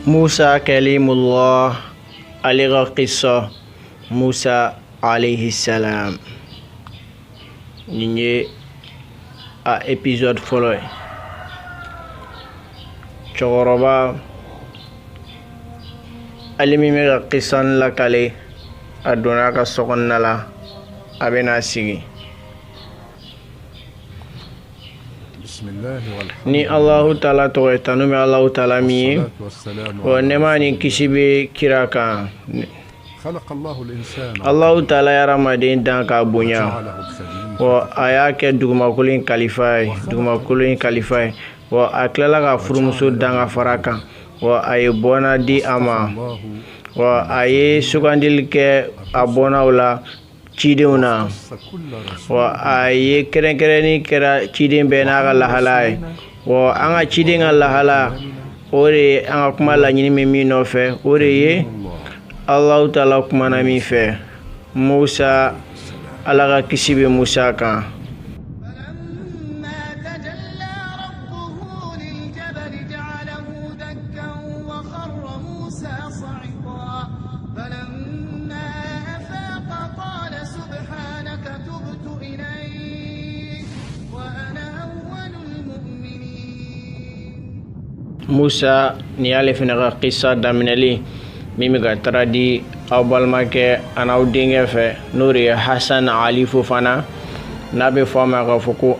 Musa Kalimullah ale ka kisa Musa alayhi salam nin ye a episode fɔlɔ ye cɛkɔrɔba ale min bɛ ka kisa lakale a donna a ka sokɔnɔna la a bɛna sigi ni alahu taala tɔgɔ ye tanu bɛ alahu taala min ye wa nɛɛma ni kisi bɛ kira kan alahu taala ye hadamaden dan k'a bonya wa a y'a kɛ dugumakolo in kalifa ye dugumakolo in kalifa ye wa a tilala ka furumuso dan ka fara a kan wa a ye bɔnna di a ma wa a ye sugandili kɛ a bɔnnaw la cidenw na wa a ye kɛrɛnkɛrɛnni kɛra ciden bɛɛ n'a ka lahala ye wa an ka ciden ka lahala o de ye an ka kuma laɲini bɛ min nɔfɛ o de ye alahu taala kumana min fɛ musa ala ka kisi bɛ musa kan musa nin y'ale fana ka kisa daminɛli min bɛ ka traduit aw balimakɛ an'aw denkɛ fɛ n'o de ye hasan ali fofana n'a bɛ fɔ a ma k'a fɔ ko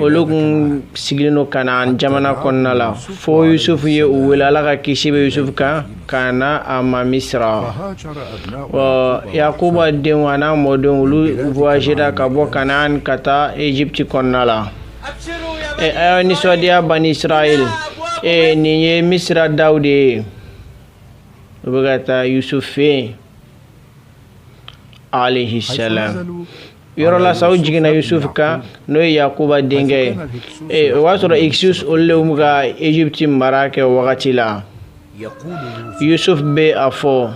olu kun sigilen don kanaan jamana kɔnɔna la fo yusufu ye u wele ala ka kisi bɛ yusufu kan ka na a ma misira wa yakuba denw an'a mɔdenw olu voyagera ka bɔ kanaan ka taa egypte kɔnɔna la ɛ aw nisɔndiya bani israɛl ee nin ye misira daw de ye u bɛ ka taa yusufu fɛ yen alayhi salam yɔrɔ la sa u jiginna yusufu kan n'o ye yakuba denkɛ ye o b'a sɔrɔ hyksos olu de bɛ ka egypte mara kɛ o wagati la yusuf bɛ a fɔ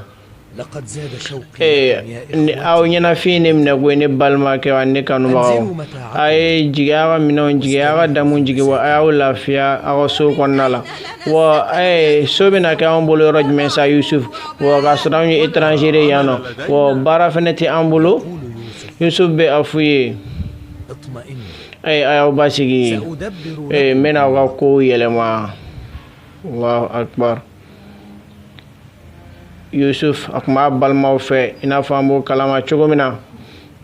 aw ɲɛnafin ye n minɛ ko ne balimakɛw ani ne kanubagaw a ye jigi aw ka minɛnw jigi aw ka damu jigi wa a y'aw lafiya aw ka so kɔnɔna la wa so bɛna kɛ anw bolo yɔrɔ jumɛn sa yusuf wa k'a sɔrɔ anw ye étranger ye yan nɔ wa baara fana tɛ an bolo yusuf bɛ a f'u ye ee a y'aw basigi ee n bɛna aw ka kow yɛlɛma allahu akbar yusuf a kun b'a balimaw fɛ i n'a fɔ an b'o kalama cogo min na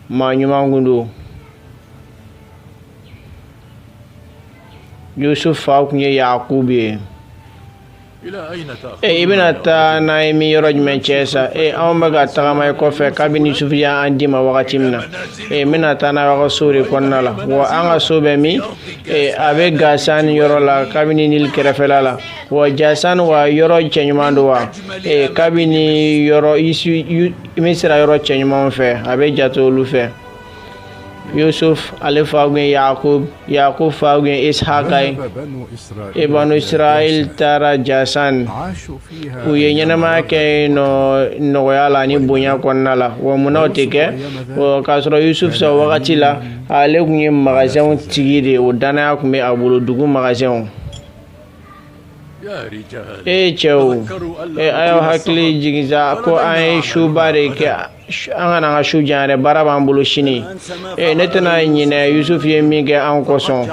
maa ɲuman kun don yusuf fa kun ye yakubu ye e i bɛna taa n'an ye min yɔrɔ jumɛn cɛ sa e anw bɛ ka tagama i kɔfɛ kabini yusufu y'an d'i ma wagati min na e n bɛna taa n'aw y'aw ka so de kɔnɔna la wa an ka so bɛ min e a bɛ gasan yɔrɔ la kabini nili kɛrɛfɛla la wa jasan wa yɔrɔ cɛɲuman don wa e kabini yɔrɔ misira yɔrɔ cɛɲumanw fɛ a bɛ jate olu fɛ yusuf ale fa kun ye yakub yakub fa kun ye ishaka ye e banu israel taara jasan u ye ɲɛnamaya kɛ yen nɔ nɔgɔya la ni bonya kɔnɔna la wa munna o tɛ kɛ k'a sɔrɔ yusuf sa wagati la ale kun ye magasɛnw tigi de ye o dannaya kun bɛ a bolo dugu magasɛnw e cɛw e a y'aw hakili jigin sa ko an ye suba de kɛ an kana an ka su jan yɛrɛ baara b'an bolo sini e ne tɛna ɲinɛ yusufu ye min kɛ an kosɔn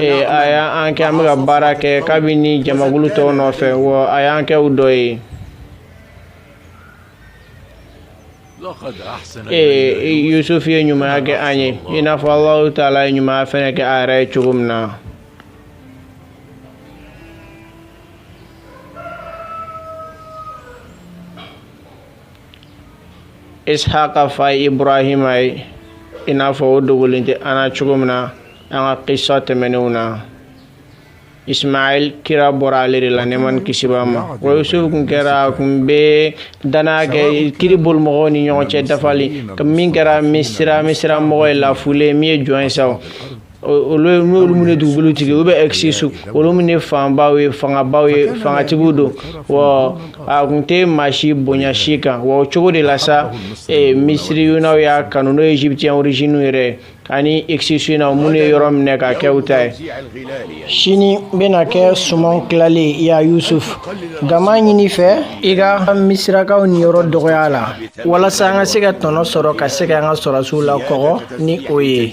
e a y'an kɛ an bɛ ka baara kɛ kabini jamakulu tɔw nɔfɛ wa a y'an kɛ u dɔ ye ee yusufu ye ɲumanya kɛ an ye i n'a fɔ alahu taala ye ɲumanya fɛnɛ kɛ a yɛrɛ ye cogo min na ishaqa fa ye ibrahima ye i n'a fɔ o dogolen tɛ an na cogo min na an ka qissa tɛmɛnenw na ismail kira bɔra ale de la nɛɛma ni kisi b'a ma wa yusufu kun kɛra a kun bɛ dannaya kɛ kiiri boli mɔgɔw ni ɲɔgɔn cɛ dafali min kɛra misira mɔgɔ ye lafulen min ye jɔn ye sa olu ye n'olu minnu ye dugukolo tigi u bɛ ɛkisisu olu minnu ye fanbaw ye fangabaw ye fangatigiw don wa a kun tɛ maa si bonya si kan wa o cogo de la sa eh, misiriyunaw y'a kanu n'o ye egyptiyɛn origine yɛrɛ ani ɛkisisu na minnu ye yɔrɔ minɛ ka kɛ u ta ye sini bɛna kɛ sumanw tilali ye yusuf nka n b'a ɲini i fɛ i ka misirakaw niyɔrɔ dɔgɔya la walasa an ka se ka tɔnɔ sɔrɔ ka se ka an ka sɔrɔsiw lakɔgɔ ni o ye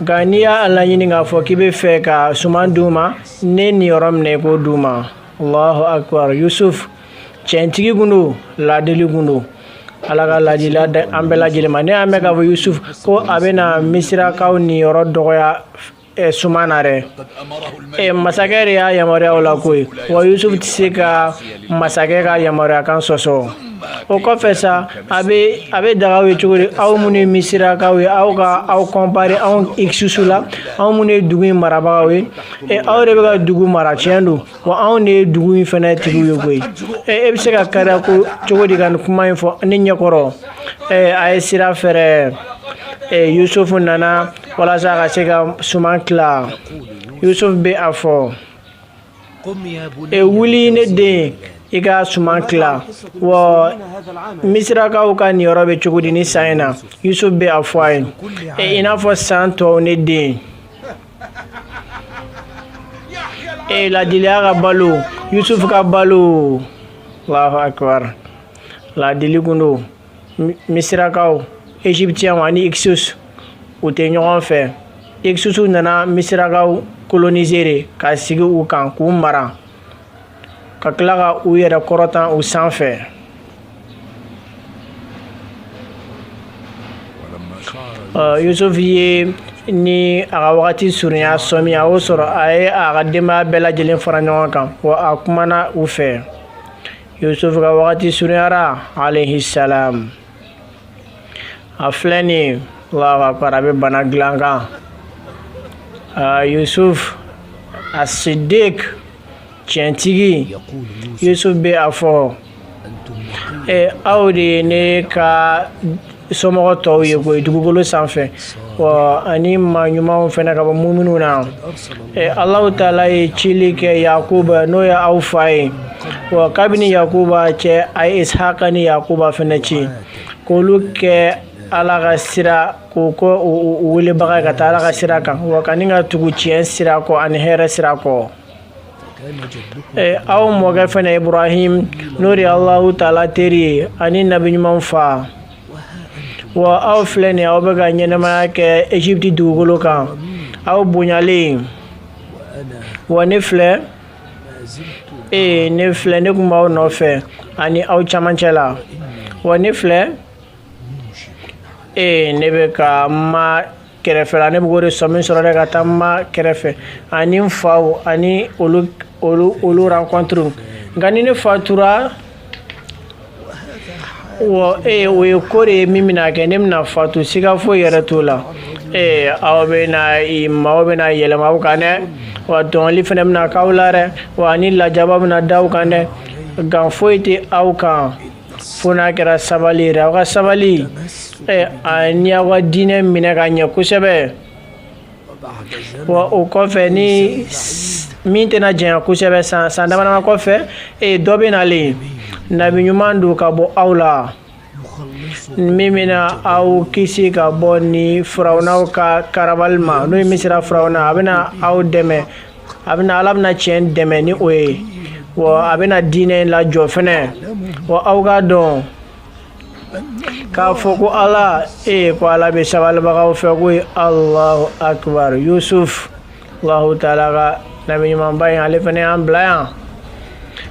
nka n'i y'a laɲini k'a fɔ k'i bɛ fɛ ka suman d'u ma ne niyɔrɔ minɛ i k'o d'u ma allahu akbar yusuf cɛntigi kun don ladili kun don ala ka ladiliya d'an bɛɛ lajɛlen ma ne y'a mɛn k'a fɔ yusuf ko a bɛna misirakaw niyɔrɔ dɔgɔya Eh, suman na dɛ eh, masakɛ de y'a yamaruya o la koyi wa yusufu tɛ se ka masakɛ ka yamaruyakan sɔsɔ o kɔfɛ sa a bɛ daga aw ye cogo di aw minnu ye misirakaw ye aw ka aw kɔnpare anw ɛkisisu la anw minnu ye dugu in marabagaw ye ɛ aw de bɛ ka dugu mara tiɲɛ don wa anw de ye dugu in fɛnɛ tigi ye koyi ɛ e bɛ se ka kariya ko cogo di ka nin kuma in fɔ ne ɲɛkɔrɔ ɛ a ye sira fɛrɛ ɛ yusufu nana walasa a ka se ka suman tila yusufu bɛ a fɔ e wuli ne den i ka suman tila wa misirakaw ka niyɔrɔ bɛ cogo di ni san in na yusuf bɛ a fɔ a ye e, i n'a fɔ san tɔw ne den e ladiliya ka balo yusuf ka balo allahu akbar ladili kun don misirakaw égyptienw ani hyksos u tɛ ɲɔgɔn fɛ hyksosw nana misirakaw coloniser de ka sigi u kan k'u mara ka tila ka u yɛrɛ kɔrɔtan u sanfɛ yusufu ye ni a ka wagati surunya sɔmi a y'o sɔrɔ a ye a ka denbaya bɛɛ lajɛlen fara ɲɔgɔn kan wa a kumana u fɛ yusuf ka wagati surunyara alayhi salam a filɛ nin ye allahu akbar a bɛ bana dilan kan yusuf a siddiq tiɲɛtigi yusuf bɛ a fɔ e aw de ye ne ka somɔgɔ tɔw ye koyi dugukolo sanfɛ wa ani maa ɲumanw fɛnɛ ka bɔ muminw na alahu taala ye cili kɛ yakuba n'o ye aw fa ye wa kabini yakuba cɛ a ye ishaka ni yakuba fɛnɛ ci k'olu kɛ ala ka sira k'u k'o welebaga ka taa ala ka sira kan wa ka ni ka tugu tiɲɛ sira kɔ ani hɛrɛ sira kɔ Eh, aw mɔkɛ fɛnɛ ibrahim n'o de ye alahu taala teri ye ani nabi ɲumanw fa wa aw filɛ nin aw bɛ ka ɲɛnamaya kɛ egypte dugukolo kan aw bonyalen wa ne filɛ ee eh, ne filɛ ne kun b'aw nɔfɛ ani aw camancɛ la wa ne filɛ ee eh, ne bɛ ka ma kɛrɛfɛ la ne bɛ k'o de sɔmi sɔrɔ dɛ ka taa ma kɛrɛfɛ ani n faw ani olu olu olu rencontre nka ni ne fatura wa ee o ye ko de ye min bɛna kɛ ne bɛna fatu siga foyi yɛrɛ t'o la ee aw bɛna i maaw bɛna yɛlɛma aw kan dɛ wa tɔɲɔli fɛnɛ bɛna k'aw la dɛ wa ani lajaba bɛna da aw kan dɛ nka foyi tɛ aw kan fo n'a kɛra sabali ye dɛ aw ka sabali ani aw ka diinɛ minɛ ka ɲɛ kosɛbɛ wa o kɔfɛ ni min tɛna janya kosɛbɛ san san damadama kɔfɛ dɔ bɛ nalen nabi ɲuman don ka bɔ aw la min bɛna aw kisi ka bɔ ni firawunaw ka karabali ma n'o ye misira firawuna a bɛna aw dɛmɛ a bɛna ala bɛna tiɲɛ dɛmɛ ni o ye wa a bɛna diinɛ in lajɔ fɛnɛ wa aw k'a dɔn k'a fɔ ko ala ee ko ala bɛ sabalibagaw fɛ koyi alahu akibar yusuf alahu taala ka nabi ɲumanba in ale fɛnɛ y'an bila yan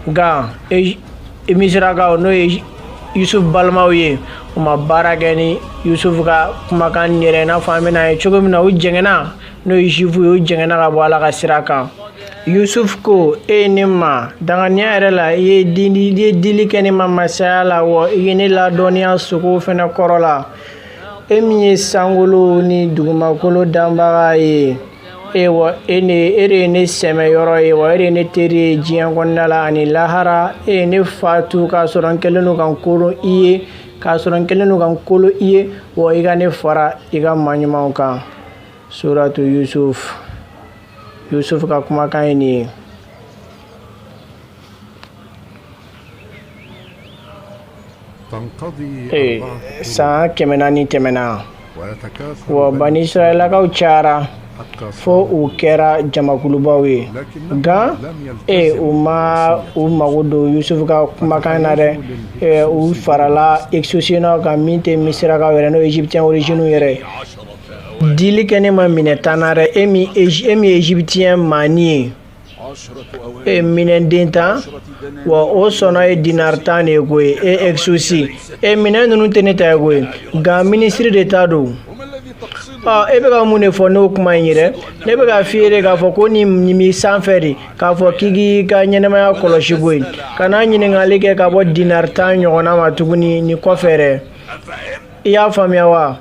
nka misirakaw n'o ye yusuf balimaw ye u ma baara kɛ ni yusuf ka kumakan ye dɛ i n'a fɔ an bɛn'a ye cogo min na u jɛngɛnna n'o ye zuwifu ye u jɛngɛnna ka bɔ ala ka sira kan yusuf ko e ye ne ma danganiya yɛrɛ la i ye dili i ye dili kɛ ne ma masaya la wa i ye ne ladɔnniya sogo fɛnɛ kɔrɔ la e min ye sankolo ni dugumakolo danbaga ye e wa e de ye ne sɛmɛyɔrɔ ye wa e de ye ne teri ye diɲɛ kɔnɔna la ani lahara e ye ne fatu k'a sɔrɔ n kɛlen don ka n kolo i ye k'a sɔrɔ n kɛlen don ka n kolo i ye wa i ka ne fara i ka maa ɲumanw kan suratu yusuf yusuf ka kumakan ye nin ye ee san kɛmɛ naani tɛmɛna wa bani israɛlakaw cayara fo u kɛra jamakulubaw ye nka e u ma u mago don yusufu ka kumakan na dɛ u farala exosinaw kan min tɛ misirakaw ye dɛ n'o ye egyptien origine ye dɛ Dili kɛ ne ma minɛn tan na dɛ e min ye egyptien maani ye e minɛn den tan wa o sɔngɔ ye dinar tan de ye koyi e exosi e minɛn ninnu tɛ ne ta ye koyi nka minisiri de ta don e bɛ ka mun de fɔ n'o kuma in ye dɛ ne bɛ k'a f'i ye de k'a fɔ ko nin b'i sanfɛ de k'a fɔ k'i k'i ka ɲɛnɛmaya kɔlɔsi koyi kana ɲininkali kɛ ka bɔ dinar tan ɲɔgɔnna ma tuguni nin kɔfɛ i y'a faamuya wa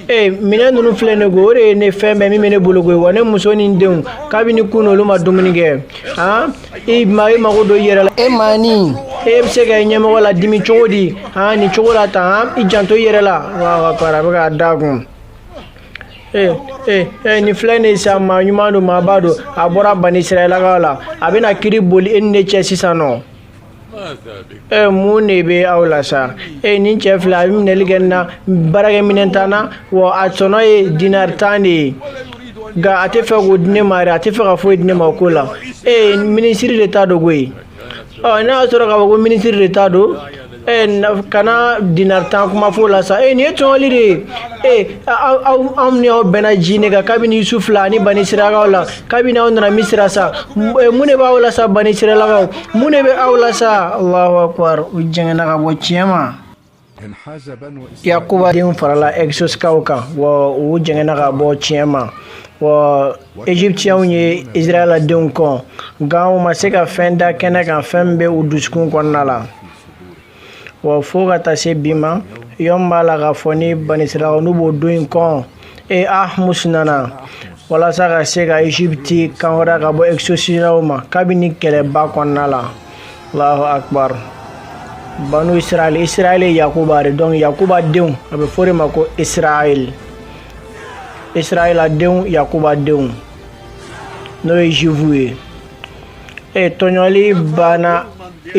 ee minɛn ninnu filɛ ne ko o de ye ne fɛn bɛɛ min bɛ ne bolo koyi wa ne muso ni n denw kabini kunun olu ma dumuni kɛ han i ma i mago don i yɛrɛ la e maani e bɛ se ka i ɲɛmɔgɔ ladimi cogo di han nin cogo la tan han i janto i yɛrɛ la wa kɔrɔ a bɛ k'a da kun ee ee ee nin filɛ nin ye sisan maa ɲuman don maaba don a bɔra bani israɛlakaw la a bɛna kiri boli e ni ne cɛ sisan nɔ Mun de bɛ aw la sa e nin cɛ filɛ a ye minɛli kɛ n na baarakɛminɛn tan na wa a sɔngɔ ye dinar tan de ye nka a tɛ fɛ k'o di ne ma a tɛ fɛ ka foyi di ne ma ko la e minisiri de ta don koyi ɔ n'a y'a sɔrɔ k'a fɔ ko minisiri de ta don kana dinar tan kuma fɔ la sa e nin ye tɔɲɔli de ye e anw ni aw bɛnna diinɛ kan kabini yusuf la ni bani israɛlakaw la kabini aw nana misira sa eh, mun de b'aw la sa bani israɛlakaw mun de bɛ aw la sa allahu akbar u jɛngɛnna ka bɔ tiɲɛ ma yakuba denw farala exosikaw kan wa u jɛngɛnna ka bɔ tiɲɛ ma wa egyptiɛnw ye israɛla denw kɔn nka u ma se ka fɛn da kɛnɛ kan fɛn min bɛ u dusukun kɔnɔna la wa fo ka taa se bi ma yɔn b'a la k'a fɔ ni bani israɛlakaw n'u b'o don in kɔn e ahmus nana walasa ka se ka egypte kan hɔrɔnya ka bɔ exosinaw ma kabini kɛlɛba kɔnɔna la allahu akbar banu israel israel ye yakuba de donc yakuba denw a bɛ f'o de ma ko israel israela denw yakuba denw n'o ye juifu ye e tɔɲɔli banna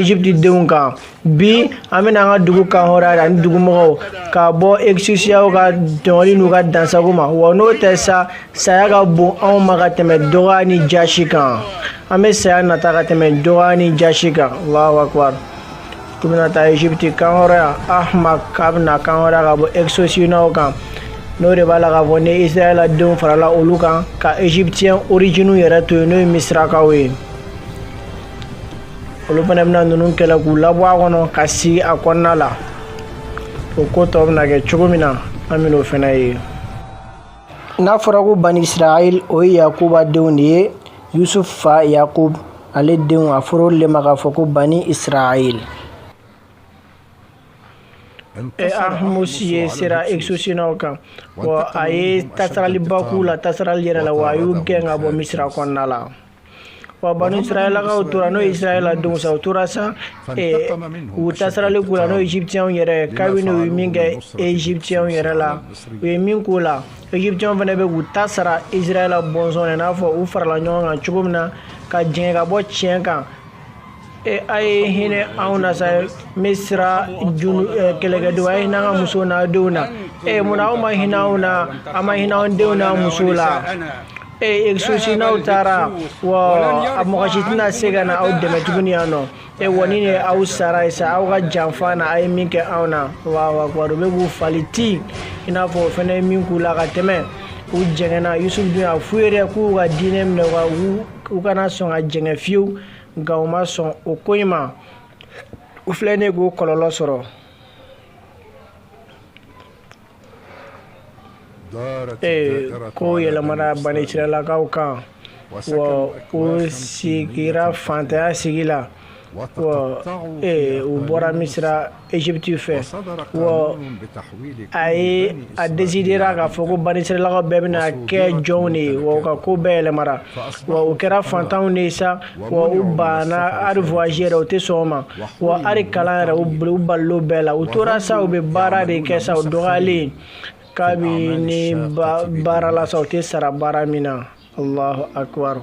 Egypte denw kan bi an bɛna an ka dugu kan hɔrɔnya ani dugumɔgɔw ka bɔ exosiyaw ka tɔɲɔli n'u ka dansago ma wa n'o tɛ sa saya ka bon anw ma ka tɛmɛ dɔgɔya ni jasi kan an bɛ saya nata ka tɛmɛ dɔgɔya ni jasi kan allahu akbar u bɛna taa egypte kan hɔrɔnya ahmak k'a bɛna kan hɔrɔnya ka bɔ exosinaw kan n'o de b'a la k'a fɔ ni israɛla denw farala olu kan ka egyptiyɛn orijiniw yɛrɛ to yen n'o ye misirakaw ye olu fana bɛna ninnu kɛlɛ k'u labɔ a kɔnɔ ka sigi a kɔnɔna la o ko tɔ bɛna kɛ cogo min na an bɛn'o fana ye n'a fɔra ko bani israɛl o ye yakuba denw de ye yusuf fa yakub ale denw a fɔra olu le ma k'a fɔ ko bani israɛl ahmus ye sera exosinaw kan wa a ye tasaraliba k'u la tasarali yɛrɛ la wa a y'u gɛn ka bɔ misira kɔnɔna la wa banu israɛlakaw tora n'o ye israɛla denw sa u tora sa u tasarali k'u la n'o ye egyptiɛnw yɛrɛ kabini u ye min kɛ egyptiɛnw yɛrɛ la u ye min k'u la egyptiɛnw fana bɛ k'u ta sara israɛla bɔnsɔn na i n'a fɔ u farala ɲɔgɔn kan cogo min na ka jɛngɛ ka bɔ tiɲɛ kan e a ye hinɛ anw na sa misira kɛlɛkɛdenw a ye hinɛ an ka musow n'an denw na e munna aw ma hinɛ anw na a ma hinɛ anw denw n'an musow la exosinaw taara wa a mɔgɔ si tɛna se ka na aw dɛmɛ tuguni yan nɔ e wa nin de aw sara ye sa aw ka janfa na a ye min kɛ anw na wa u bɛ k'u fali ti i n'a fɔ o fana ye min k'u la ka tɛmɛ u jɛngɛnna yusufu dun y'a f'u ye dɛ k'u ka diinɛ minɛ wa u kana sɔn ka jɛngɛ fiyewu nka u ma sɔn o ko in ma u filɛ nin k'o kɔlɔlɔ sɔrɔ ee ko yɛlɛmana bani israɛlakaw kan wa u sigira fantanya sigi la wa ee u bɔra misira Egypte fɛ wa a ye a décidera k'a fɔ ko Banisiralakaw bɛɛ bɛna kɛ jɔnw de ye wa u ka ko bɛɛ yɛlɛmara wa u kɛra fantanw de ye sa wa u banna hali voyage yɛrɛ u tɛ sɔn o ma wa hali kalan yɛrɛ u balila o bɛɛ la u tora sa u bɛ baara de kɛ sa u dɔgɔyalen kabini baara la sa u tɛ sara baara min na Alahu akibaru